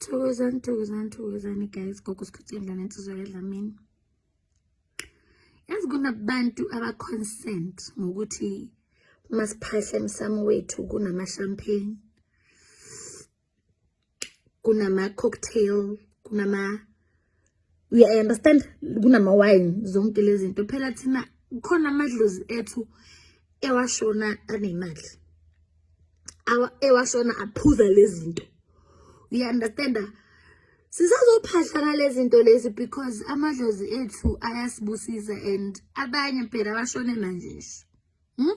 Thokozani, thokozani, thokozani guys. Gogo sikhuthi indlana insizwa yedlamini. Yazi kunabantu aba-consent ngokuthi uma siphahla emsamo wethu kunama-champagne, kunama-cocktail, kunama we understand kunama wine zonke lezi zinto phela thina khona amadlozi ethu ewashona anemali ewashona aphuza lezi zinto we understand sisazophahla ngalezi zinto lezi because amadlozi ethu ayasibusisa and abanye phela bashone manje nje hmm?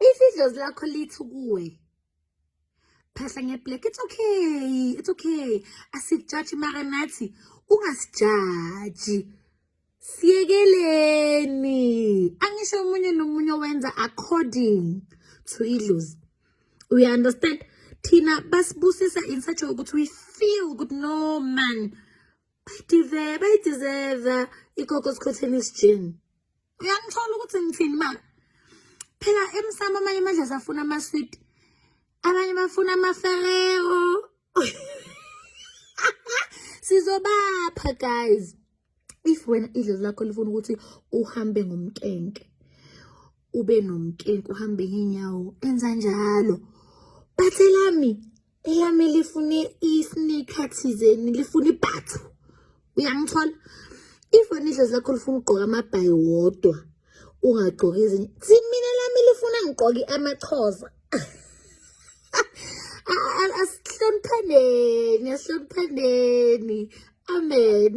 If idlozi lakho lithi kuwe phahla ngeblack it's okay it's okay asijaji mara nathi ungasijaji siyekeleni angisho omunye nomunye owenza according to idlozi we understand thina basibusisa in such a way ukuthi we feel ukuthi no man bayideserve bayideserve ikoko sikhotheni isijini uyangithola ukuthi ngithini ma phela emsamo amanye amadlazi afuna ama-sweet abanye bafuna amaferero sizobapha guys if wena idlozi lakho lifuna ukuthi uhambe ngomkenke ube nomkenke uhambe ngeenyawo enza njalo bathelami elami lifune i-sneaker thizeni lifuna ibhathu uyangithola ifoni idlozi lakho lifuna ugqoka amabhayi wodwa ungagqoki izinye thi mina lami lifuna ngigqoke amachoza asihloniphaneni asihloniphaneni amen